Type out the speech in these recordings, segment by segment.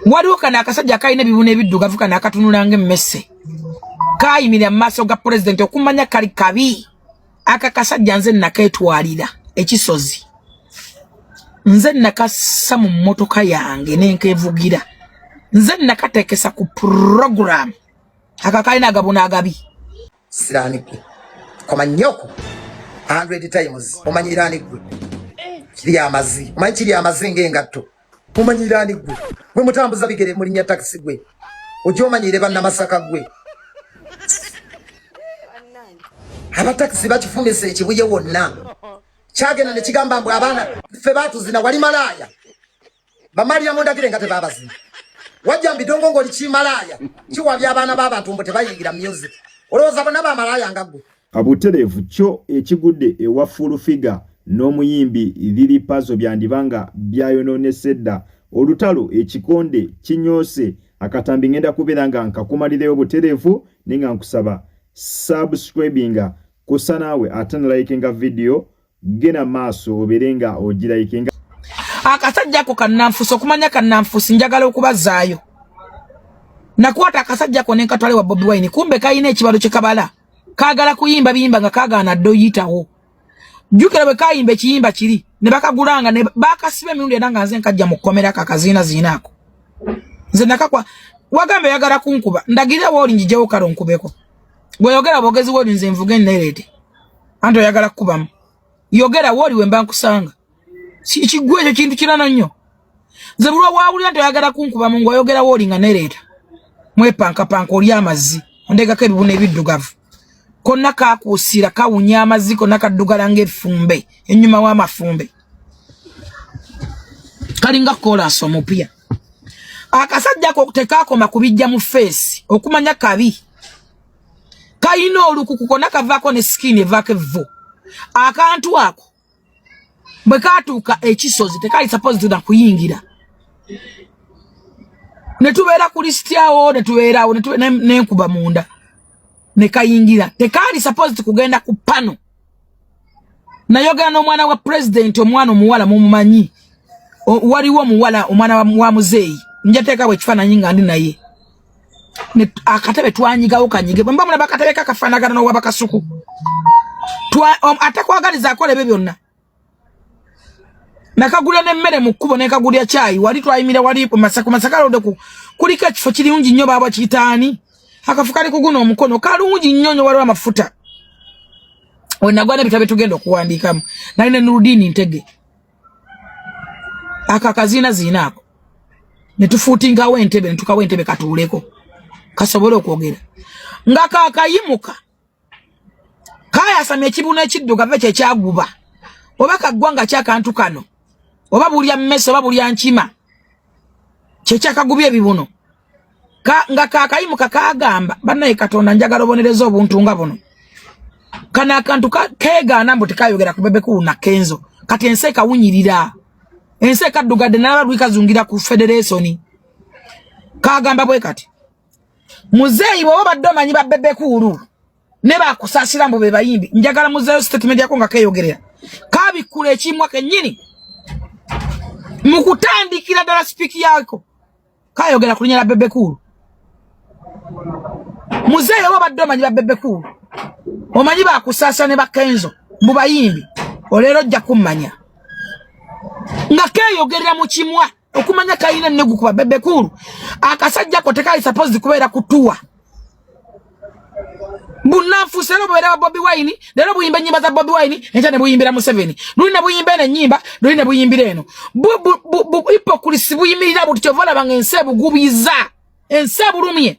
waliwo kano akasajja akalina ebibuno ebiddugavu kano akatunulanga emmese kayimira mu maaso ga pulezidenti okumanya kali kabi aka kasajja nze naketwalira ekisozi nze nakassa mu mmotoka yange nenkevugira nze nakatekesa ku puroguramu aka kalina agabuna agabi siraani gwe komanyoko hundred times omanyiraani gwe kiri amazi omanyi kiri amazi ngaengatto Mumanyira ani gwe? Gwe mutambuza bigere mu linnya taxi gwe. Ojo omanyire banna Masaka gwe. Aba taxi bakifumise ekibuye wonna. Kyagenda ne kigamba mbu abaana ffe baatuzina wali malaaya. Bamaliya mu ndagire nga tebaabazina. Wajja mbidongo ng'oli kimalaaya. Kiwabya abaana b'abantu mbu tebayingira music. Olowooza bonna ba malaaya nga gwe. Abuterevu kyo ekigudde ewa Full Figure n'omuyimbi Lili Pazo byandiba nga byayonoonese dda olutalo ekikonde kinyoose akatambi ngenda kubeera nga nkakumalireyo buterevu naye nga nkusaba subscribinga kusa naawe ate nalayikinga vidiyo gena maaso obeere nga ogirayike nga akasajja ako kannanfuusi okumanya kannanfuusi njagala okubazaayo nakwata akasajja ako nenkatwale wa bobi wine kumbe kalina ekibalo kyekabala kagala kuyimba biyimba nga kagaana dde oyitawo jukira bwe kayimba ekiyimba kiri ne bakagulanga ne bakasiba emirundi era nga nze nkajja mu kkomera kakaziina ziina ako nze nakakwa wagamba oyagala kunkuba ndagirira wooli njijewo kale onkubeko bweyogera bwogezi woli nze nvuge nerede anti oyagala kukubamu yogera woli wemba nkusanga kigwa ekyo kintu kirana nnyo nze bulwa wawulira nti oyagala kunkubamu ngaoyogera woli nga nereeta mwepankapanka oli amazzi ondegako ebibuna ebiddugavu konna kakuusira kawunya amazzi konna kaddugala ngaefumbe enyuma w'amafumbe kalinga kolansi omupya akasajja ko tekakoma kubijja mu feesi okumanya kabi kalina olukuku kona kavaako ne sikini evaako evvu akantu ako bwe katuuka ekisozi tekali sapoziti na kuyingira ne tubeera ku lisiti awo ne tubeerawo nenkuba munda ne kayingira tekaali sapoziti kugenda ku pano nayogera n'omwana wa pulezidenti omwana omuwala mumumanyi waliwo omuwala omwana wa muzeeyi njateekawo ekifaananyi nga ndi naye akatebe twanyigawo kanyige bwe mbamulaba akatebe kakafaanagana n'owabakasuku atakwagaliza akola ebyo byonna nakagula nemmere mu kkubo nekagulya kyayi wali twayimira wali masaka masaka lode ku kuliko ekifo kirungi nnyo baaba kiyitaani akafu kali kuguna omukono kalungi nnyo nyo waliwo amafuta wenagwa nebitabo byetugenda okuwandiikamu nali ne nurudiini ntege ako akaziina ziina ako netufuutingawo entebe netukawo entebe katuuleko kasobole okwogera nga kakayimuka kayasamya ekibuno ekiddugave kyekyaguba oba kaggwa nga kyakantu kano oba bulya mmese oba bulya nkima kyekyakagubya ebibuno ka, nga kakayimuka kagamba banaye katonda njagala obonereza obuntu nga buno kano akantu kegaana mbu tekayogera ku bebekuuna kenzo kati ensi ekawunyirira ensi ekaddugadde nalaba lwikazungira ku federesoni kagamba bwe kati muzeeyi bwoba obadde omanyi babebekuulu ne bakusasira mbu bebayimbi njagala muzeeyo sitatimenti yako nga keyogerera kabikkula ekimwa kennyini mu kutandikira ddala sipiiki yako kayogera kulinya la bebe cool muzee yabo badde omanyi ba bebe cool omanyi bakusasa ne bakenzo mu bayimbi olero ojja kummanya nga keyogerera mu kimwa okumanya kalina nnegu kuba bebekulu akasajja ko tekali supposed kubeera kutuwa bunanfuusi era obubeera wa bobi wine leero buyimba ennyimba za bobi wine enkya ne buyimbira museveni luli ne buyimba eno ennyimba luli ne buyimbira eno hipokulisi buyimirira buti kyova olabanga ensi ebugubiza ensi ebulumye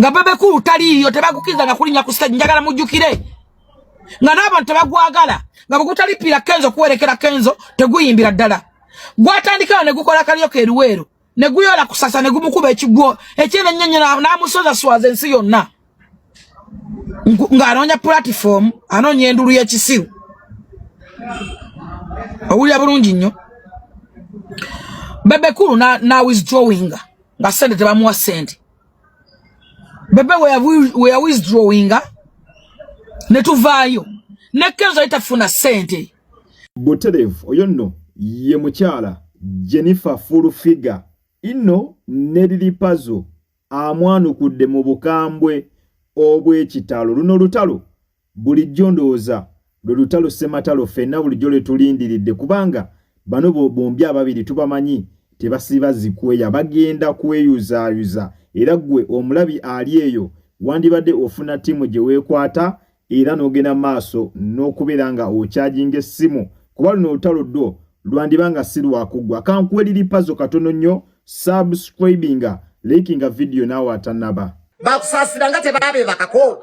nga bebe kulu taliiyo tebagukiriza na kulinya ku stage njagala mujjukire nga n'abantu tebagwagala nga bwegutalipiira kenzo kuwerekera kenzo teguyimbira ddala gwatandikawo ne gukola kalyoka eruweero ne guyola kusasa ne gumukuba ekigwo ekyene nnyenye n'amusoza swaza ensi yonna ng'anoonya pulatifomu anoonya endulu y'ekisiru owulira bulungi nnyo bebe kulu na, na withdrawinga nga sente tebamuwa sente bebe weya withdrawinga ne tuvaayo ne kenzo yitafuna sente buterevu oyo nno ye mukyala jennifer full figure inno ne lilipazo amwanukudde mu bukambwe obw'ekitalo luno lutalo Bulijjo ndowooza lwe lutalo ssematalo ffenna bulijjo lwe tulindiridde kubanga bano bombi ababiri tubamanyi tebasiba zikweya bagenda kweyuzaayuza era ggwe omulabi ali eyo wandibadde ofuna ttiimu gye weekwata era n'ogenda maaso n'okubeera nga okyajinga essimu kuba luno olutalo ddwo lwandiba nga si lwakuggwa kankuwa eriri pazo katono nnyo subscribinga likinga vidiyo naawe atanaba bakusaasira nga tebabeebakako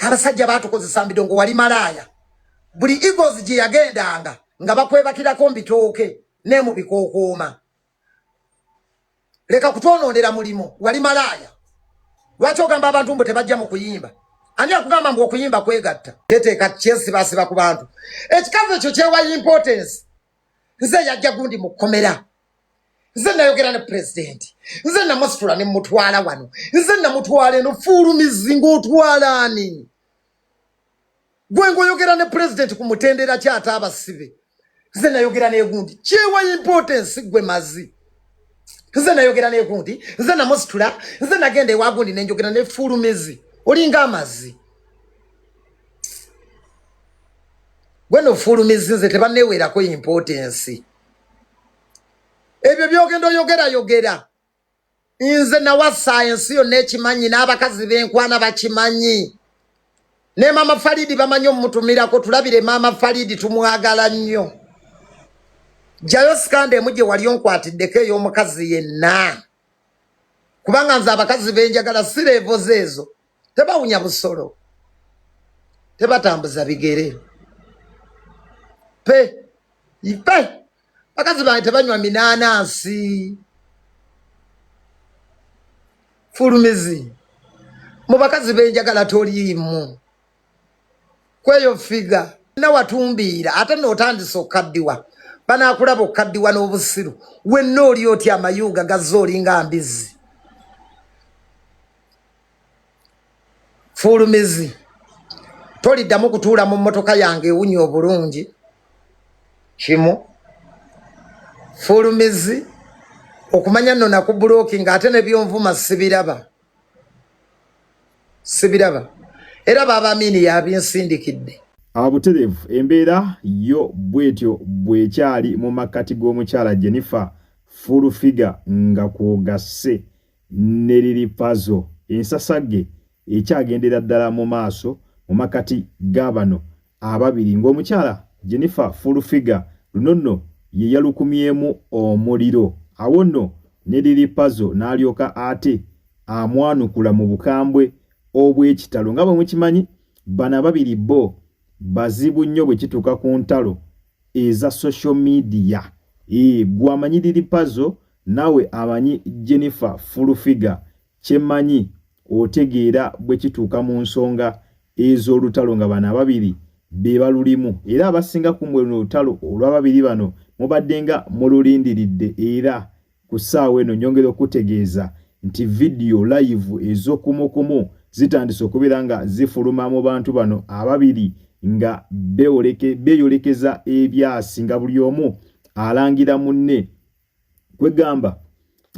abasajja batukozesa mbidongo wali malaaya buli egos gye yagendanga nga bakwebakirako mbitooke ne mu bikookooma leka kutwonoonera mulimu wali malaaya lwaki ogamba abantu mbu tebajja mu kuyimba ani akugamba mbu okuyimba kwegatta yeteeka kyesibaasiba ku bantu ekikazi ekyo kyewa importance nze yajja gundi mu kkomera nze nayogera ne pulezidenti nze namusitula ne mutwala wano nze namutwala eno fuulumizi ng'otwala ani gwe ng'oyogera ne pulezidenti ku mutendera kyata abasibe nze nayogera negundi kyewa importance gwe mazi nze nayogera negundi nze namusitula nze nagenda ewagundi nenjogera ne fuulumizi olinga amazi Gweno fulumizinze tebanewerako importance. Ebyo byogenda oyogera yogera. Nze nawa science yo nekimanyi n'abakazi benkwana bakimanyi. Ne mama Faridi bamanyi omutumirako tulabire mama Faridi tumwagala nnyo. Jayo sikande muje wali onkwatiddeko ey'omukazi yenna. Kubanga nze abakazi benjagala sireevo zeezo. tebawunya busolo tebatambuza bigere pe ipe bakazi bange tebanywa minaanansi fulumizi mu bakazi benjagala toliimu kweyo figa nawatumbiira ate nootandisa okukaddiwa banaakulaba okukaddiwa n'obusiru wenna oli otya amayuuga gazze olinga mbizi fuulumizi toliddamu kutuula mu mmotoka yange ewunya obulungi kimu fuulumizi okumanya nno nakubuloki nga ate nebyonvuma sibiraba sibiraba era baaba amiini yabinsindikidde abuterevu embeera yo bwetyo bwekyali mu makkati g'omukyala jennifer full figure nga kwogasse ne liri pazo ensasagge ekyagendera ddala mu maaso mu makati ga bano ababiri ng'omukyala Jennifer Fulfiga luno nno ye yalukumyemu omuliro awo nno ne liri pazo n'alyoka ate amwanukula mu bukambwe obw'ekitalo nga bwe mukimanyi bano ababiri bo bazibu nnyo bwe kituuka ku ntalo eza social media ee gwamanyiriri pazo Nawe amanyi Jennifer full figure kyemanyi otegeera bwe kituuka mu nsonga ez'olutalo nga bano ababiri be balulimu era abasinga kumwe luno olutalo olw'ababiri bano mubadde nga mululindiridde era ku ssaawa eno nyongera okutegeeza nti vidiyo layivu ez'okumukumu zitandise okubeera nga zifuluma mu bantu bano ababiri nga beeyolekeza ebyasi nga buli omu alangira munne kwegamba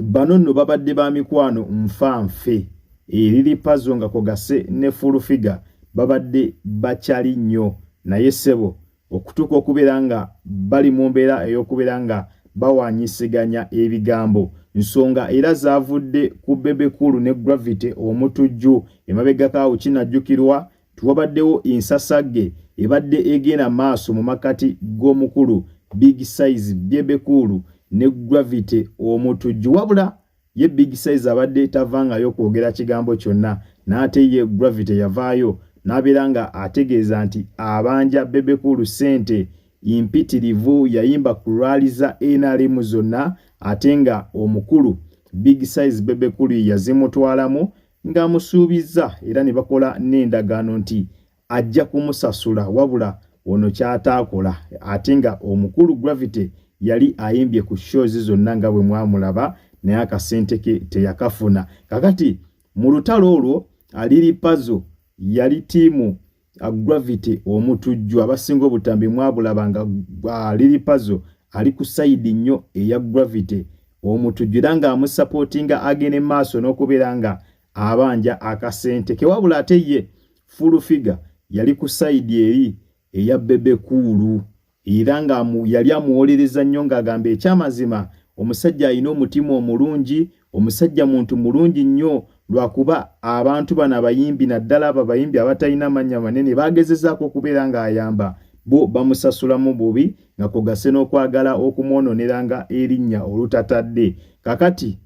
bano nno babadde ba mikwano nfa nfe eriri eh, pazo nga kogase ne full figure babadde bakyali nnyo naye ssebo okutuuka okubeera nga bali mu mbeera ey'okubeera nga bawanyisiganya ebigambo nsonga era zavudde ku bebekulu ne gravity omutujju emabegakaawo kinajjukirwa Wabaddewo ensasagge ebadde egenda maaso mu makati g'omukulu Big Size Bebe Cool ne Gravity Omutujju wabula ye Big Size abadde tavangayo kwogera kigambo kyonna n'ate ye Gravity yavaayo n'abeera nga ategeeza nti abanja Bebe Cool ssente mpitirivu yayimba ku lwali za NRM zonna ate nga omukulu Big Size Bebe Cool yazimutwalamu ng'amusuubizza era ne bakola n'endagaano nti ajja kumusasula wabula ono ky'ataakola ate nga omukulu Gravity yali ayimbye ku shows zonna nga bwe mwamulaba naye akasente ke teyakafuna kakati mu lutalo olwo aliri pazo yali tiimu uh, gravity omutujju abasinga obutambi mwabulaba nga uh, lili pazo ali ku sayidi nnyo eya gravity omutujju era nga amusapotinga agene maaso n'okubeera nga abanja akasente kewabula ate ye full figure yali ku sayidi eri eya bebe kuulu era nga yali amuwolereza nnyo ng'agamba ekyamazima omusajja alina omutima omulungi omusajja muntu mulungi nnyo lwakuba abantu bano abayimbi naddala abo abayimbi abatalina mannya manene bagezezaako okubeera ng'ayamba bo bamusasulamu bubi nga kugase n'okwagala okumwononeranga erinnya olutatadde kakati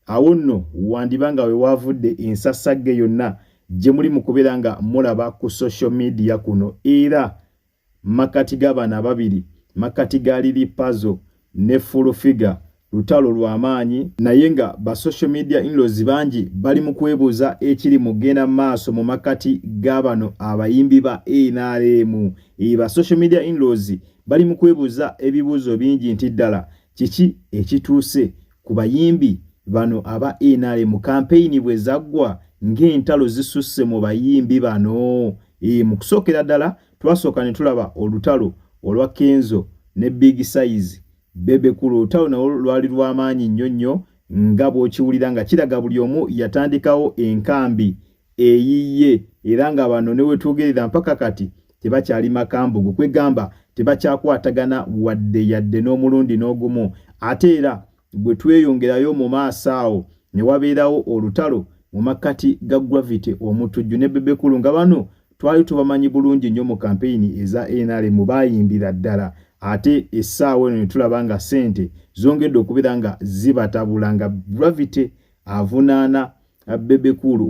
awo nno wandiba nga we waavudde ensasagge yonna gye muli mu kubeera nga mulaba ku social media kuno era makkati ga bano ababiri makkati ga lili pazo ne full figure lutalo lwa maanyi naye nga ba social media inlos bangi bali mu kwebuuza ekiri mu genda maaso mu makkati ga bano abayimbi ba nrm eba social media inlos bali mu kwebuuza ebibuuzo bingi nti ddala kiki ekituuse ku bayimbi bano aba nrm kampeyini bwe zaggwa ng'entalo zisusse mu bayimbi bano e, mu kusookera ddala twasooka ne tulaba olutalo olwa kenzo ne big size bebekulu olutalo nawo lwali lw'amaanyi nnyo nnyo nga bw'okiwulira nga kiraga buli omu yatandikawo enkambi eyiye era nga bano ne wetwogerera mpaka kati tebakyali makambugu kwegamba tebakyakwatagana wadde yadde n'omulundi n'ogumu ate era bwe tweyongerayo mu maaso awo ne wabeerawo olutalo mu makkati ga gravity omutujju ne bebekulu nga bano twali tubamanyi bulungi nnyo mu kampeyini eza nrm baayimbira ddala ate essaawa eno ne tulaba nga ssente zongedde okubeera nga zibatabula nga gravity avunaana Bebe Cool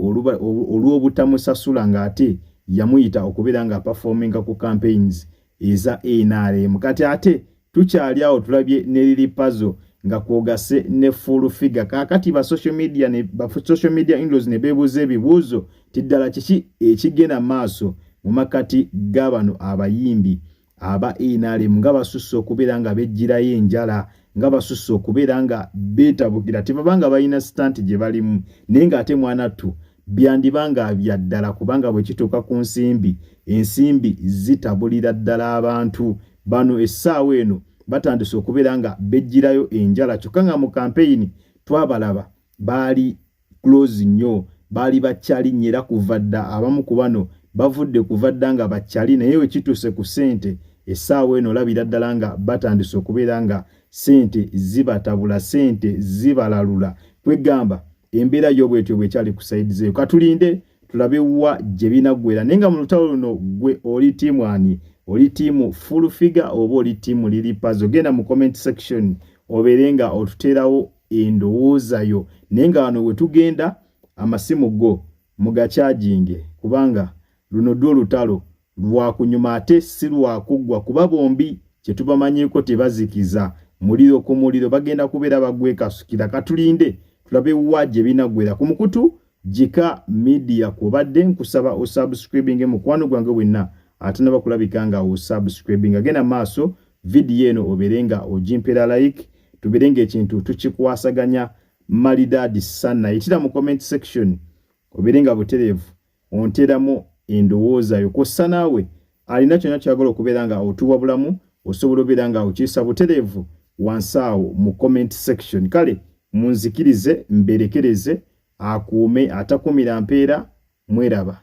olw'obutamusasula ng'ate yamuyita okubeera nga performinga ku campaigns eza NRM kati ate tukyali awo tulabye ne Lili Pazo nga kwogase ne full figure kakati ba social media ne ba social media inlos ne bebuuza ebibuuzo ti ddala kiki ekigenda maaso mu makati g'abano abayimbi aba nrm nga basusse okubeera nga bejjirayo enjala nga basusse okubeera nga beetabukira tebaba nga balina sitanti gye balimu naye ng'ate mwanattu byandiba nga bya ddala kubanga bwe kituuka ku nsimbi ensimbi zitabulira ddala abantu bano essaawa eno batandise okubeera nga bejjirayo enjala kyokka nga mu kampeyini twabalaba baali close nnyo baali bakyali nnyo era kuva dda abamu ku bano bavudde kuva dda nga bakyali naye we kituuse ku ssente essaawa eno olabira ddala nga batandise okubeera nga ssente zibatabula ssente zibalalula kwegamba embeera yo bwetyo bwekyali ku saidi zeyo katulinde tulabe wa gye binaggwera naye nga mu lutalo luno gwe oli tiimu ani oli tiimu full figure oba oli tiimu lili pazo genda mu comment section obeere nga otuteerawo endowooza yo naye nga wano wetugenda amasimu go mugakyaginge kubanga luno dwo olutalo lwakunyuma ate si lwakuggwa kuba bombi kyetubamanyiiko tebazikiza muliro ku muliro bagenda kubeera bagwekasukira katulinde tulabe wa gye binagwera ku mukutu Jika media kwobadde nkusaba osubscribinge mukwano gwange wenna atanaba kulabika nga osubscribinga genda maaso vidiyo eno obeere nga ogimpera like tubeere nga ekintu tukikwasaganya malidaadi sanna yitira mu comment section obeere nga butereevu onteramu endowooza yo kwossa naawe alina kyonna kyagala okubeera nga otuwa bulamu osobola obeera nga okiyisa butereevu wansi awo mu comment section kale munzikirize mberekereze akuume atakumira mpeera mweraba.